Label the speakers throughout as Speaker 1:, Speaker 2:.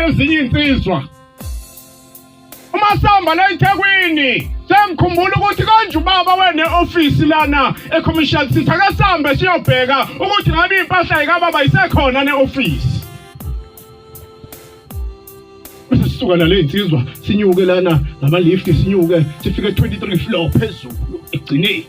Speaker 1: ezinye insizwa uma sihamba la eThekwini sengikhumbula ukuthi konje ubaba wene office lana eCommercial City akasambe siyobheka ukuthi ngabe impahla ikababa isekhona neoffice bese sisuka la lezinsizwa sinyuke lana ngama lift sinyuke sifike 23 floor phezulu egcineni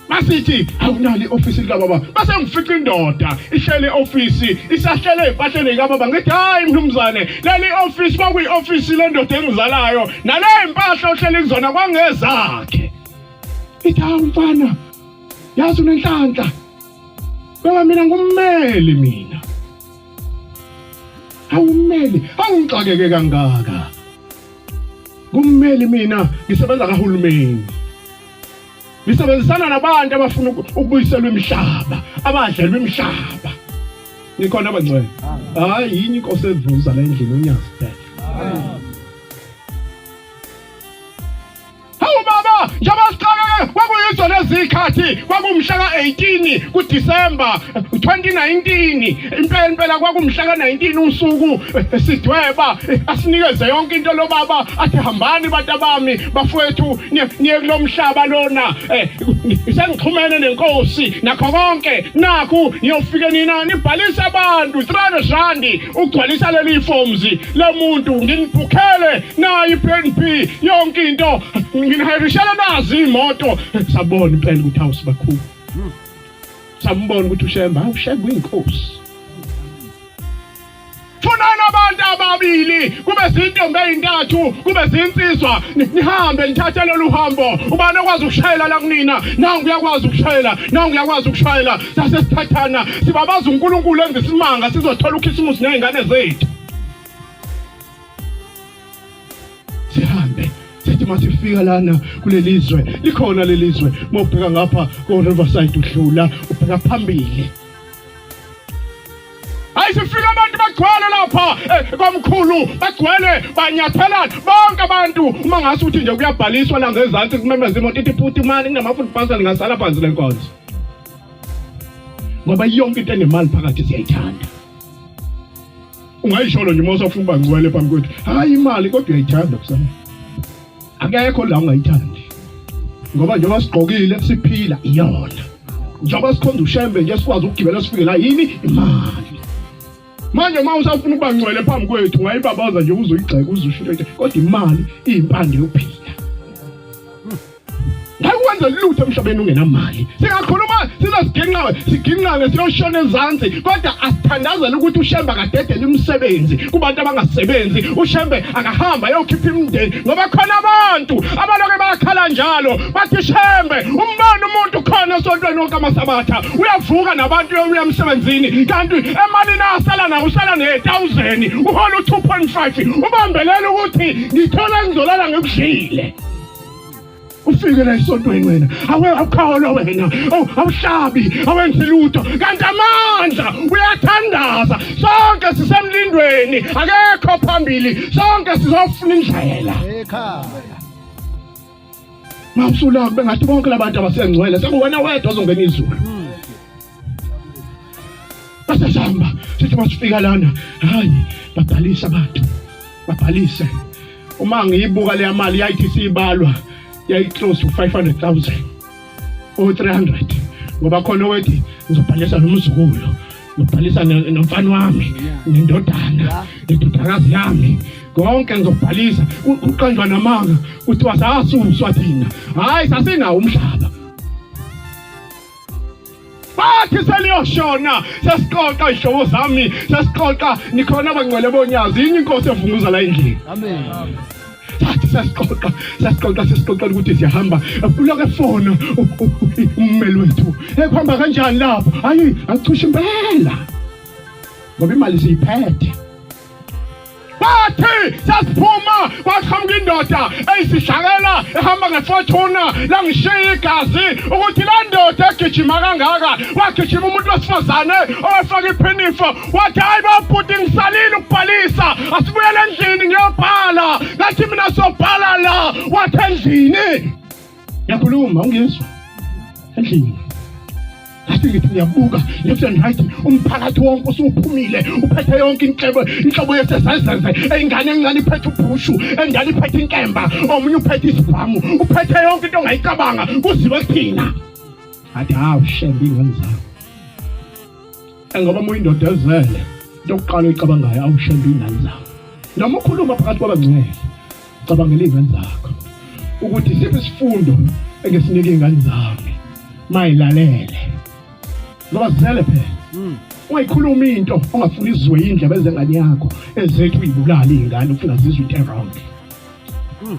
Speaker 1: masithi awunali ofisi likababa base ngifica indoda ihlele ofisi isahlele impahleni likababa ngithi hayi mnumzane leli ofisi kwakuyi ofisi lendoda engizalayo nale impahla ohlele kuzona kwangezakhe ithi hawu mfana yazi unenhlanhla baba mina ngummeli mina awummeli awungixakeke kangaka kummeli mina ngisebenza kahulumeni ngisebenzisana nabantu abafuna ukubuyiselwa imihlaba abadlelwa imihlaba nikhona abangcwele hayi yini inkosi evuza la endlini unyazi phela Hawu baba, njengoba sixakeke kwakuyizo lezikhathi kwakumhla ka-18 kuDisemba 2019. Impela impela kwakumhla ka-19 usuku eh, sidweba eh, asinikeze yonke into lo baba athi hambani bantu abami bafowethu niye niye kulo mhlaba lona. Eh, Sengixhumene nenkosi nakho konke nakhu niyofike nina nibhalise abantu 300 randi ugcwalisa leli forms lemuntu nginibhukhele nayi PNP yonke into nginihayirishela nazi imoto sabona impela ukuthi house bakhulu sambona ukuthi ushemba awushemba uyinkosi funani abantu ababili kube zintombi ezintathu kube zinsizwa nihambe nithathe lolu hambo ubani okwazi ukushayela la kunina nangu uyakwazi ukushayela nangu uyakwazi ukushayela sase sithathana sibabaza uNkulunkulu enza isimanga sizothola ukhisimusi nezingane zethu sihambe sithi masifika lana kuleli zwe likhona leli zwe uma ubheka ngapha ko-riverside udlula ubheka phambili hayi sifika abantu bagcwele lapha eh, kwamkhulu bagcwele banyathelana bonke abantu uma ngase ukuthi nje kuyabhaliswa la ngezansi kumemeza imoto ithi puti imali kunama-food parcel ngasala phansi le nkonzo ngoba yonke into enemali phakathi siyayithanda ungayisholo nje uma usafuna uba ngcwele phambi kwethu hhayi imali kodwa uyayithanda kusana akekho la ungayithandi ngoba njengoba sigqokile siphila iyona njengoba sikhonza ushembe nje sikwazi ukugibela sifike la yini imali manje uma usafuna ukuba ngcwele phambi kwethu ungayibabaza nje uzoyigxeka uzushintshe kodwa imali iyimpande yokuphila Ngakwenza lutho emhlabeni ungenamali. Singakhuluma sizosigingqawe, sigingqane siyoshona ezansi kodwa asithandazela ukuthi uShembe akadedele imisebenzi kubantu abangasebenzi. UShembe akahamba ayokhipha imindeni ngoba khona abantu abaloke bakhala njalo bathi Shembe umbona umuntu khona esontweni wonke amasabatha uyavuka nabantu uya emsebenzini kanti emalini asala nayo usala ne-thousand uhola u-2.5 ubambelela ukuthi ngithole engizolala ngikudlile ufike la esontweni wena awe awukholwa wena oh awuhlabi awenzi lutho kanti amandla uyathandaza sonke sisemlindweni akekho phambili sonke sizofuna indlela ekhaya mawusula kube ngathi bonke labantu abasengcwele sekuwena wedwa ozongena izulu basasihamba sithi masifika lana hayi babhalise abantu babhalise uma ngiyibuka leya mali yayithi siyibalwa yayiclose to 500000 o 300 ngoba khona owethi ngizobhalisa nomzukulu ngibhalisa nomfana wami nendodana indodakazi yami konke ngizobhalisa uqanjwa namanga kuthiwa sasuswa thina hhayi sasinawo umhlaba bathi seliyoshona sesiqoqa izihlobo zami sesiqoqa nikhona abangcwele bonyazi yini inkosi evunguza la endlini amen sathi sesiqoqa sesiqoqa sesiqoqa ukuthi siyahamba uloke fona ummeli wethu ekuhamba kanjani lapho hayi achushe impela ngoba imali siyiphethe bathi sasiphuma kwaqhamuka indoda eyisishakela ehamba ngefortuna langishiya igazi ukuthi la ndoda egijima kangaka wagijima umuntu wesifazane owefaka iphinifo wathi hayi babhuti ngisalile ukubhalisa asibuyele endlini ngiyobhala ngathi mina sobhala la wathi endlini Ngiyakhuluma ungizwa endlini ngithi ngiyabuka left and right umphakathi wonke usuphumile uphethe yonke inhlebo inhlobo yesesezeze ingane encane iphethe ubhushu engane iphethe inkemba omunye uphethe isibhamu uphethe yonke into ongayicabanga kuziwe kuthina athi hawu shembe ingane zakho engoba uma uyindoda ezele into yokuqala oyicabangayo awushembe ingane zakho noma ukhuluma phakathi kwabangcwele Cabangela izingane zakho ukuthi siphi isifundo engesinike izingane zami mayilalele ngoba zizele phela hmm. ungayikhuluma into ongafuni izwe indlebe ezengane yakho ezethu uyibulala izingane ufuna zizwe into wrong hmm.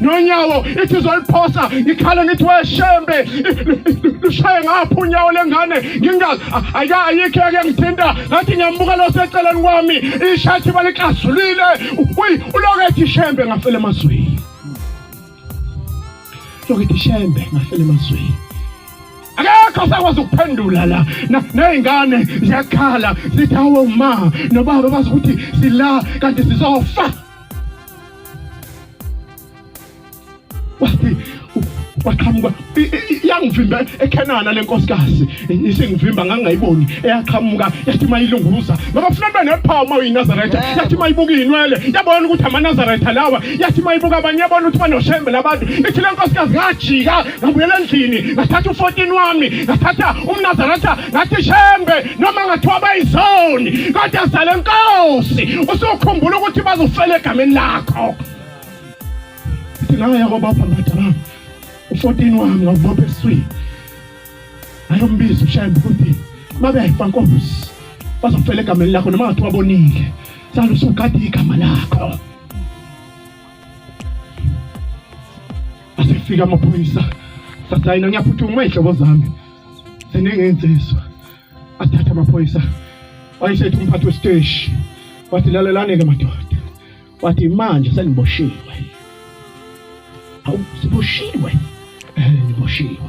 Speaker 1: nonyawo ithi izoliphosa ngikhale ngithi weshembe lushaye ngapha unyawo lengane ngingazi ake ayikho yake ngithinta ngathi ngiyambuka lo seceleni kwami ishathi balikasulile uyi uloke ethi shembe ngafela emazweni loke ethi shembe ngafela emazweni akekho sakwazi ukuphendula la ney'ngane ziyakhala zithi awo ma nobaba bazi ukuthi sila kanti sizofa wathi waqhamuka yangivimba ekhenana le nkosikazi isingivimba ngangayiboni eyaqhamuka yathi uma ilunguza ngoba funa ntwana yaphawu uma uyinazaretha yathi uma ibuka iyinwele yabona ukuthi amanazaretha lawa yathi uma ibuka abanye yabona ukuthi banoshembe labantu ithi le nkosikazi ngajika ngabuyela endlini ngathatha u-14 wami ngathatha umnazaretha ngathi shembe noma ngathiwa bayizoni kodwa zale nkosi usukhumbula ukuthi bazofela egameni lakho ithi nangaya kobapha ngadala u-14 wami ngawubopha eswini ayombiza ushembe ukuthi mabefa nkosi bazofela egameni lakho noma ngathiwa bonile salo usugade igama lakho asefika amaphoyisa sasayina ngiyaphuthuma izihlobo zami seningenziswa athatha amaphoyisa wayesethi umphathi wesiteshi wathi lalelane-ke madoda wathi manje seniboshiwe awu siboshiwe um niboshiwe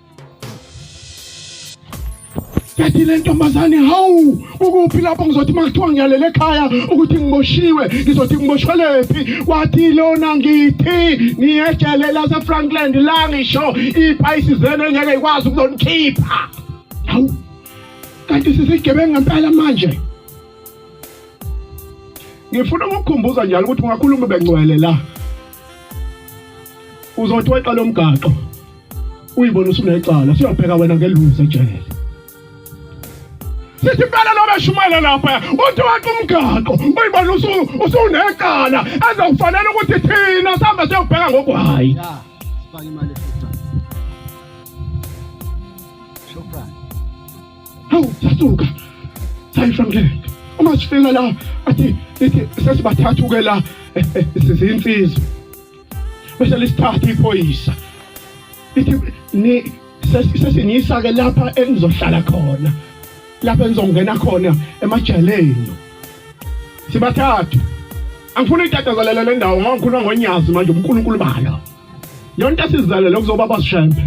Speaker 1: yathi le ntombazane hawu ukuphi lapho ngizothi uma kuthiwa ngiyalele ekhaya ukuthi ngiboshiwe ngizothi ngiboshelwephi wathi lona ngithi ngiyejele lasefrankland la ngisho iphayisi zenu engeke ikwazi ukuzonikhipha hawu kanti sisigebengu ngempela manje ngifuna ukukukhumbuza njalo ukuthi ungakhuluma bengcwele la uzothi weqa lomgaqo uyibona usunecala siyobheka wena ngeluze ejele sithi impela lo beshumayela lapha uthi wathi umgaqo uyibona usunecala ezokufanele ukuthi thina sihambe siyobheka ngoku hhayi hawu sasuka sayifamkela uma sifika la athi ithi sesibathathu-ke la eh, eh, sizinsizwa bese lisithatha iphoyisa lithi ni sesiniyisa ke lapha enizohlala khona lapha enizongena khona emajaleni sibathathu angifuni itatazalele le ndawo ngoba ngikhuluma ngonyazi manje unkulunkulu balo yonke sizalele kuzoba basishembe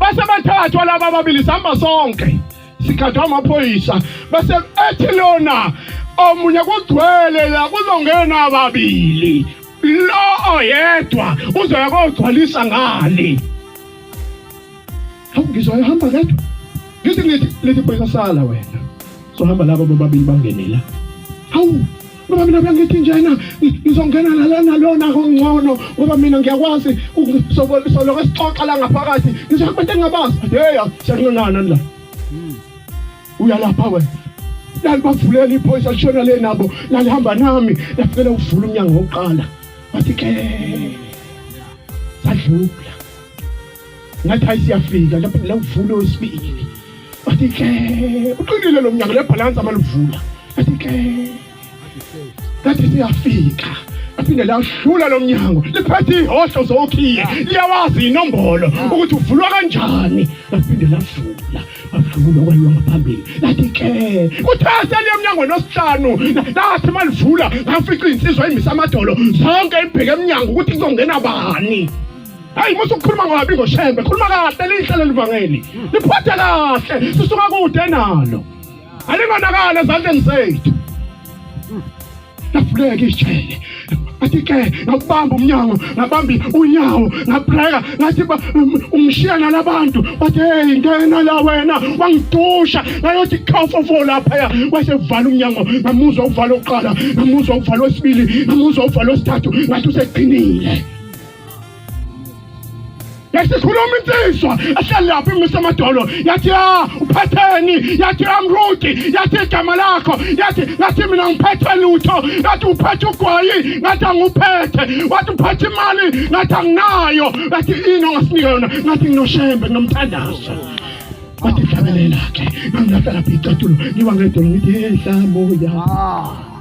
Speaker 1: base bathathwa laba ababili sihamba sonke sikhathwa amaphoyisa bese ethi lona omunye kugcwele la kuzongena ababili lo oyedwa uzoya kogcwalisa ngale hawu ngizwa ehamba kedwa ngithi ngithi lithi phoyisa sala wena sohamba laba bobabili bangenela hawu ngoba mina bengithi njena ngizongena nalana lona kongcono ngoba mina ngiyakwazi soloke sixoxa la ngaphakathi ngisho abantu engingabazi yeya siyancinana la hmm. uyalapha wena lalibavulela iphoyisa lishona le nabo lalihamba nami lafikela ukuvula umnyango wokuqala wathi ke sadlula ngathi hayi siyafika lapho lawuvula wesibili wathi ke uqinile lo mnyango lebhalansi amaluvula wathi ke ngathi siyafika aphinde lahlula lo mnyango liphethe ihosho zokhiye liyawazi inombolo ukuthi uvulwa kanjani laphinde lavula avula kwayiwa ngaphambili lathi ke kuthe seliye emnyangweni osihlanu lathi malivula ngafica iy'nsizwa imisa amadolo zonke ibheke emnyango ukuthi kuzongena bani hayi musa ukukhuluma ngabi ngoshembe khuluma kahle lihle leli vangeli liphathe kahle sisuka kude nalo alingonakala ezandleni zethu lafuleka ijele athi-ke ngakubamba umnyango ngabambi unyawo ngabreka ngathi ungishiya nalabantu wathi heyi ngena la wena wangidusha ngayothi khafofo laphaya wasevala umnyango ngamuzwa uvala oqala ngamuzwa uvala wesibili ngamuzwa uvala wesithathu ngathi usegcinile yasikhuluma insizwa ehleli lapho imise amadolo yathi ya ah, uphetheni yathi amruti ah, yathi igama lakho yathi ngathi mina ngiphethe lutho yathi uphethe ugwayi ngathi anguphethe wathi uphethe imali ngathi anginayo yathi ini ongasinika yona ngathi nginoshembe nginomthandazo wathi fanele lakhe ngangilahla lapha icathulo ngiwa ngedolo ngithi hehla moya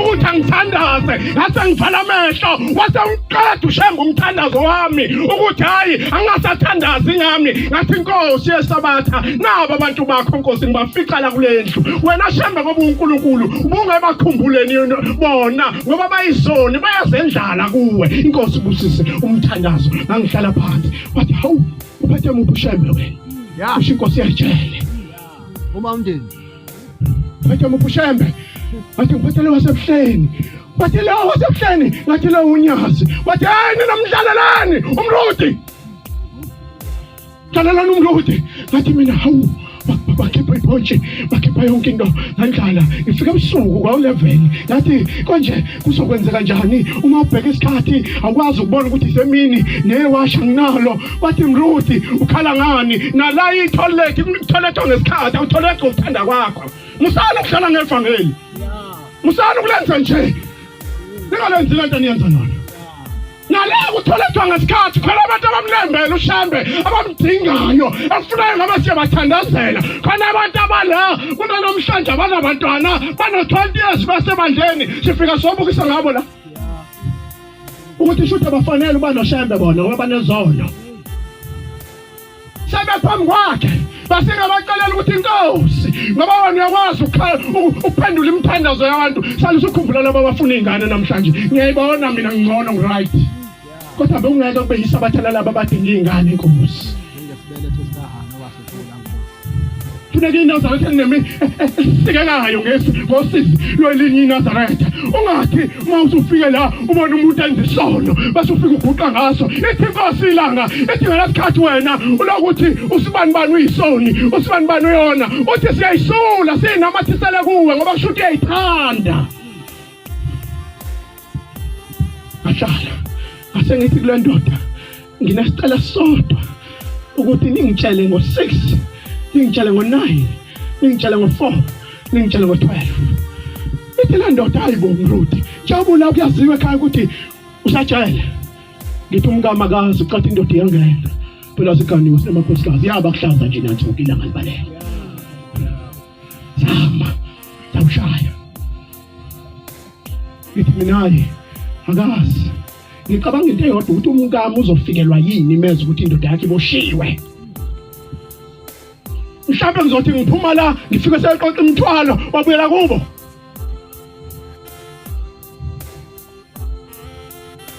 Speaker 1: ukuthi angithandaze ngase ngivala amehlo wase ngiqeda ushemba umthandazo wami ukuthi hayi angingasathandazi ngami ngathi inkosi yesabatha nabo abantu bakho nkosi ngibafica la kule ndlu wena shembe ngoba unkulunkulu ubungebakhumbuleni bona ngoba bayizoni bayazendlala kuwe inkosi busise umthandazo ngangihlala phansi wathi hawu uphethe muphi ushembe wena yasho inkosi yajele uma
Speaker 2: umndeni Bathi
Speaker 1: mupushembe. Bathi ngiphathele wasebuhleni. Bathi lo wasebuhleni, ngathi lo unyazi. Bathi hey nina mdlalelani umrudi. Dlalelani umrudi. Ngathi mina hawu bakhipha iphontshe bakhipha yonke into ngandlala ngifika ebusuku kwawu-eleven ngathi konje kuzokwenzeka njani uma ubheka isikhathi awukwazi ukubona ukuthi isemini neyewasha nginalo wathi mruthi ukhala ngani nala itholethi kutholethwa ngesikhathi awutholethwa ukuthanda kwakho musana ukuhlala ngevangeli musana ukulenza nje ningalenzi lento niyenza nona nale kutholethwa ngesikhathi khona abantu abamlembele ushembe abamdingayo ekufunayo ngoba siyabathandazela khona abantu abala kunanomhlanje abanabantwana bano-20 years basebandleni sifika sobukisa ngabo la ukuthi shuthi abafanele uba noshembe bona ngoba banezono sebephambi kwakhe basengabacelela ukuthi inkosi ngoba wona uyakwazi ukuphendula imithandazo yabantu sale usukhumbula laba abafuna iy'ngane namhlanje ngiyayibona mina ngingcono ngiright kodwa bewungeke kube yisabatha lalaba abadinga iy'ngane inkosi funeka inazareth enemi esikekayo ngesu ngosisi lwelinye inazaretha ungathi uma usufike la ubona umuntu enza isono bese ufike uguqa ngaso ithi inkosi ilanga ithi ngelasikhathi wena ulokuthi usibani bani uyisoni usibani bani uyona uthi siyayisula siyinamathisele kuwe ngoba kusho ukuthi uyayithanda Ahlala. Asengithi kule ndoda nginesicela sodwa ukuthi ningitshele ngo-6 ningitshele ngo-9 ningitshele ngo-4 ningitshele ngo-12 ithi le ndoda hayi bo mruti jabula kuyaziwa ekhaya ukuthi usajele ngithi umkama kazi ucathi indoda iyangena phela siganiwe sinamakhosikazi yaba kuhlaza nje nathi ukilanga libalele zama zamshaya ngithi mina-ke akazi ngicabanga into eyodwa ukuthi umkami uzofikelwa yini imeza ukuthi indoda yakhe iboshiwe mhlawumbe ngizothi ngiphuma la ngifike seyixoxa imithwalo wabuyela kubo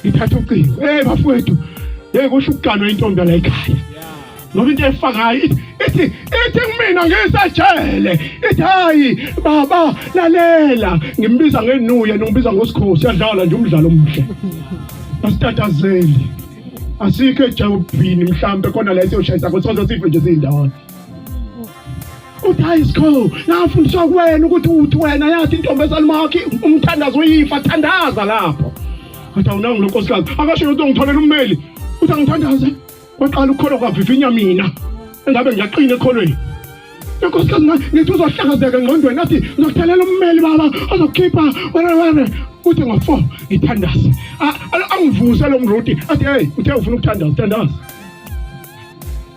Speaker 1: ithatha ucingo hey bafowethu hey kusho ukuganwa intombi la ekhaya ngoba into efakayo ithi ithi kumina ngisejele ithi hayi baba lalela ngimbiza ngenuya ngibiza ngosikhosi yadlala nje umdlalo omuhle asitatazeli asikho ejawubhini mhlambe khona la esiyoshayisa kosozo sife nje siyindawana uthi school nafundiswa kuwena ukuthi uthi wena yathi intombi esalumakhi umthandazo uyifa thandaza lapho athi awunangu lo nkosikazi akasho lento ngitholela ummeli uthi angithandaze kwaqala ukukholwa kwavivinya mina engabe ngiyaqina ekholweni inkosikazi ngithi uzohlakazeka engqondweni athi ngizokuthalela ummeli baba ozokukhipha wena wena uthi ngo-four ngithandaze angivuse lo mruti athi heyi uthe ufuna ukuthandaza thandaza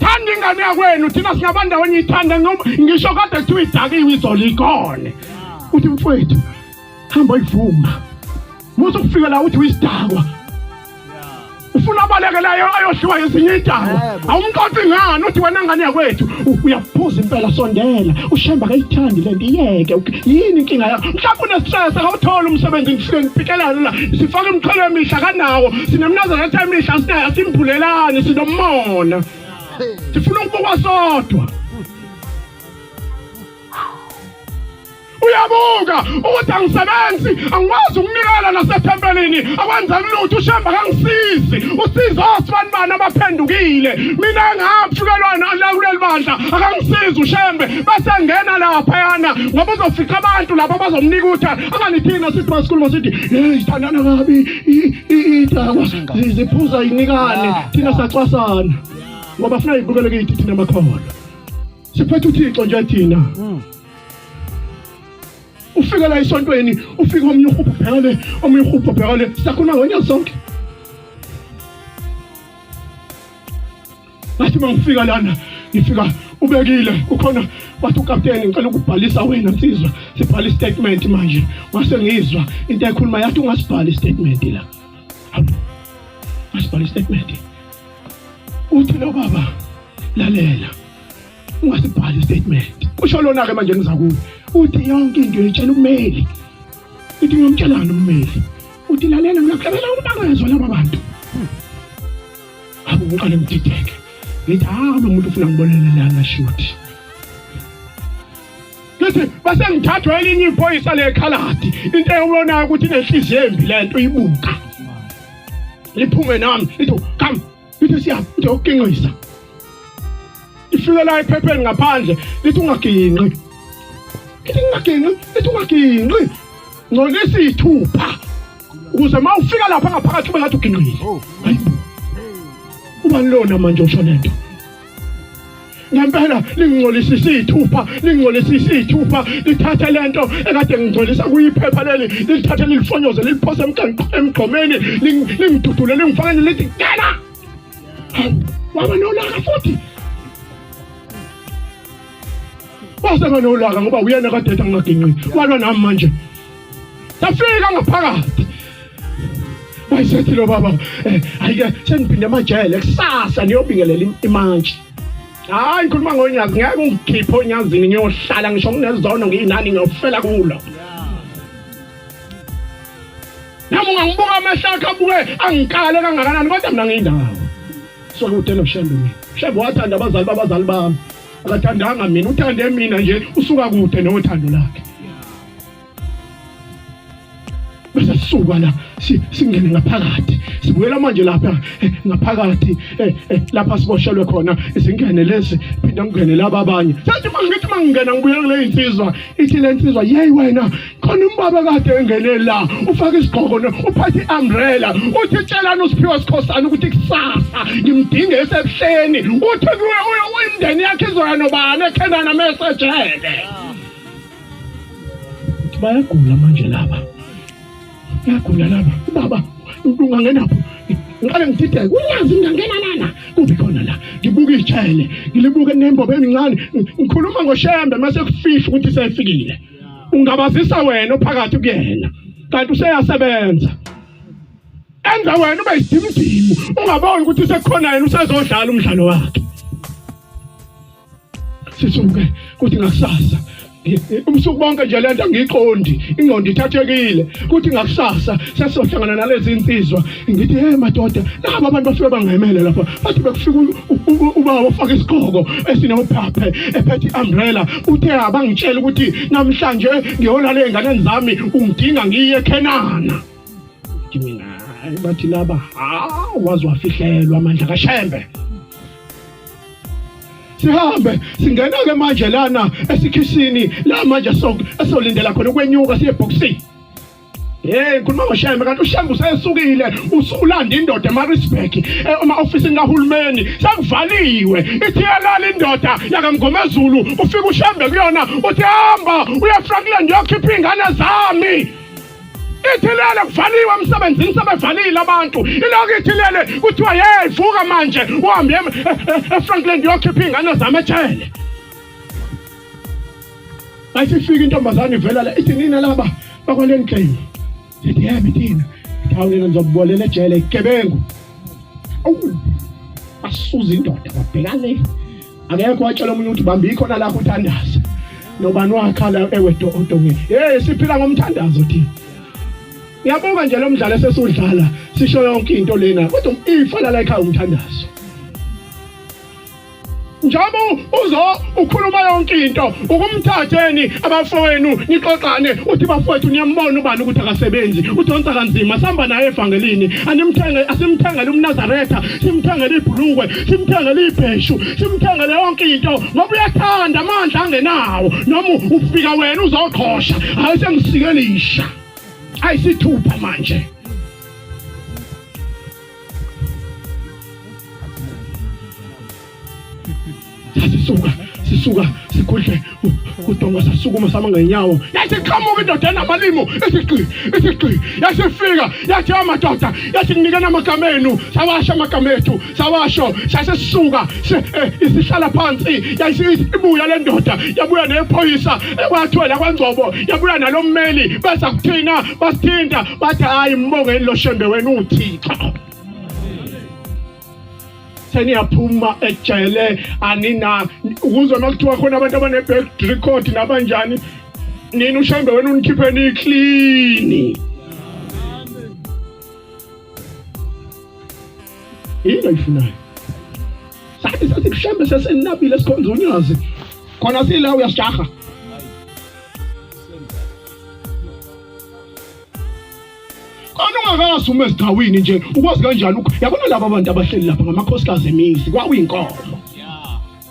Speaker 1: Thanda ingane yakwenu thina singaba ndawonye ithanda noma ngisho kade kuthiwa idakiwe izolo ikone. Uthi mfowethu hamba uyivuma. Musa ukufika la uthi uyisidakwa. Ufuna abaleke la ayoshiywa ezinye idakwa. Awumqoqi ngani uthi wena ngane yakwethu u- uyaphuza impela sondela ushemba kayithandi lento iyeke uk- yini inkinga yakho mhlawumbe unestress akawutholi umsebenzi ngifike ngiphikelane la sifake imithwalo emisha kanawo thina mnazana thamisha asinayo asimbhulelani sinomona sifuna ukubukwa sodwa uyabuka ukuthi angisebenzi angikwazi ukunikela nasethempelini akwenzeki lutho ushemba kangisizi usiza osibani bani abaphendukile mina engahamshukelwa nakuleli bandla akangisizi ushembe bese ngena laphayana ngoba uzofica abantu lapho bazomnika ukuthi anganithini nasiphi sikhuluma sithi yeyi thandana kabi iy'dakwa ziphuza inikane thina sacwasana ngoba funa yibukele kithi thina makhono siphethe uthixo nje thina hmm. ufike la esontweni ufike omunye uhubhu bhekale omunye uhubhu bhekale siyakhuluma ngonyaka sonke ngathi uma ngifika lana ngifika ubekile ukhona wathi ukapteni ngicela ukubhalisa wena nsizwa sibhala istatement manje wase ngizwa into ekhuluma yathi ungasibhala istatement la ngasibhala istatement uthi lo baba lalela ungasibhala istatement kusho lona ke manje ngizakuwe uthi yonke into yetshela ummeli ithi ngiyomtshelana ummeli uthi lalela ngiyakuhlabela umbangazwa laba bantu Awu ngiqale ngidideke. Ngithi hawu ah, lo muntu ufuna ngibonele lana shuthi. Ngithi base ngithathwa elinye iphoyisa lekhaladi. Into eyobonayo ukuthi inenhliziyo embi lento ibuka. Liphume nami. Ngithi come. Ngithi siya. Ngithi ukinqisa. Ifike la ephepheni ngaphandle. Ngithi ungaginqi. Ngithi ungaginqi. Ngithi ungaginqi. Ngcolisa ithupha. ukuze uma ufika lapha ngaphakathi kube ngathi ugingqile oh. ubani lona manje usho lento ngempela lingcolisa isithupha lingcolisa isithupha lithathe lento ekade ngingcolisa kuyiphepha leli lilithathe lilifonyoze liliphose emgqomeni lingidudule lingifakele lithi ngena waba nolaka futhi wasenganolaka ngoba uyena kadeta ngingaginqini walwa nami manje safika ngaphakathi wayesethi lo baba eh, ayike sengiphinde amajele kusasa niyobingelela imantshi hayi ngikhuluma ngonyazi ngeke ungikhiphe onyazini ngiyohlala ngisho nginezono ngiyinani ngiyofela kulo nami ungangibuka amehlo akhe abuke angikale kangakanani kodwa mina ngiyindawo Sekude noShembe mina. Shembe wathanda abazali babazali bami. Akathandanga mina, uthande mina nje usuka kude nothando lakhe. Bese sisuka la singene ngaphakathi. Sibuyela manje lapha eh, ngaphakathi eh, eh, lapha siboshelwe khona izingene lezi phinde ngene laba abanye. Sathi mangithi mangena ngibuyela kule insizwa ithi le nsizwa yey wena khona umbaba kade engene la ufake isigqoko uphathe i-umbrella uthi tshelani usiphiwa sikhosana ukuthi kusasa ngimdinge esebuhleni uthi kuwe imndeni yakhe izoya nobani ekhenana mesejele bayagula manje laba bayagula laba ubaba ungangenapho ngiqale ngidideke unyazi ngingangena lana kuphi khona la ngibuka ijele ngilibuke nembobo emincane ngikhuluma ngoshembe mase kufihle ukuthi sefikile ungabazisa wena ophakathi kuyena kanti useyasebenza enza wena ube isimdimu ungaboni ukuthi sekukhona yena usezodlala umdlalo wakhe sisuke kuthi ngakusasa ubusuku bonke nje lento ngiqondi ingqondo ithathekile kuthi ngakusasa sesizohlangana nalezi insizwa ngithi hey madoda nabo abantu bafike bangemele lapha bathi bekufika ubaba ofaka isigqoko esinewuphaphe ephethe i-umbrella uthe abangitshela ukuthi namhlanje ngiyolala ey'nganeni zami ungidinga ngiye ekhenana mina hayi bathi laba hawu waze wafihlelwa amandla kashembe sihambe singena-ke manje lana esikhishini la manje esolindela khona ukwenyuka siye ebhokisini Hey ngikhuluma ngoShembe kanti uShembe usesukile usulanda indoda eMaritzburg eh, uma ofisini kahulumeni sekuvaliwe ithi yalala indoda yakamgomezulu ufika uShembe kuyona uthi hamba uya Frankland yokhipha ingane zami ithilele kuvaliwe emsebenzini sebevalile abantu iloko ithilele kuthiwa hey vuka manje uhambe eh, eh, eFrankland yokhipha ingane zami ejele Ayisifika intombazane ivela la ithi nina laba bakwale ngxenye. Sithi yebo thina. Hawu nina nizobubolela ejele igebengu. Awu basuza indoda babheka le. Akekho watshela omunye ukuthi bambi ikhona la kuthandaza. Nobani wakhala ewedo odongeni. Hey siphila ngomthandazo thina. Ngiyabonga nje lo mdlalo esesudlala sisho yonke into lena kodwa ifa la la ekhaya umthandazo. njengoba uzo ukhuluma yonke into ukumthatheni abafowenu nixoxane uthi bafowethu niyambona ubani ukuthi akasebenzi udonsa kanzima sihamba naye evangelini animthenge asimthengele umnazaretha simthengele ibhulukwe simthengele ibheshu simthengele yonke into ngoba uyathanda amandla angenawo noma ufika wena uzoqhosha hayi sengisikelishya ayisithupha manje sisuka sisuka sikhudle udonga sasukuma sama ngenyawo yasiqhamuka indoda enamalimu isiqi isiqi yasifika yathi amadoda yathi kunikena amagama enu sawasho amagama ethu sawasho sasisuka eh, isihlala phansi yayisibuya le ndoda yabuya nephoyisa ekwathwela kwangcobo yabuya nalo mmeli bese kuthina basithinta bathi hayi mbongeni lo shembe wena uthixo seniyaphuma ejele anina ukuze makuthiwa khona abantu abane-back record nabanjani nina ushambe wena unikhiphe niklini yini ayifunayo sathi sasikuhlambe sesenabile sikhonza unyazi khona sila uyasijaha Anungakazi uma esigcawini nje ukwazi kanjani yabona laba abantu abahleli lapha ngamakhosikazi emizi kwawuyinkomo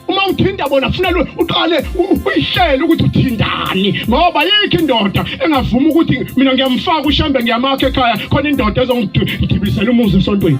Speaker 1: uma uthinta bona kufuna lo uqale uyihlele ukuthi uthindani ngoba yikho indoda engavuma ukuthi mina ngiyamfaka ushambe ngiyamakha ekhaya khona indoda ezongidibisela umuzi esontweni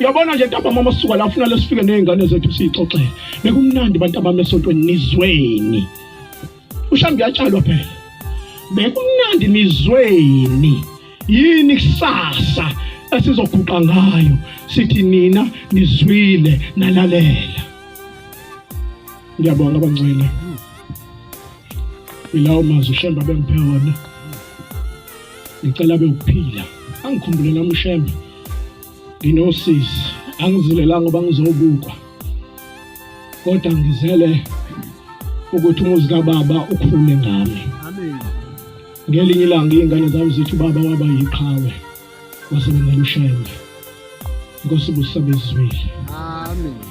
Speaker 1: Uyabona nje ntambama uma sisuka la ufuna lesifike nezingane zethu sixoxele. Bekumnandi bantambama esontweni nizweni. Ushambi yatshalwa phela. Bekumnandi nizweni. Yini kusasa esizoguqa ngayo sithi nina nizwile nalalela. Ngiyabonga bangcwele. Ilawo mazwi ushemba bengiphe wona. Ngicela bewuphila. Angikhumbule nami ushemba. nginosisi angizilelanga ngoba ngizobukwa kodwa ngizele ukuthi umuzi kababa ukhule ngami
Speaker 2: ngelinye
Speaker 1: ilanga iy'ngane zami zithi ubaba waba yiqhawe wasebenzela ushembe inkosi busabezwile
Speaker 3: amen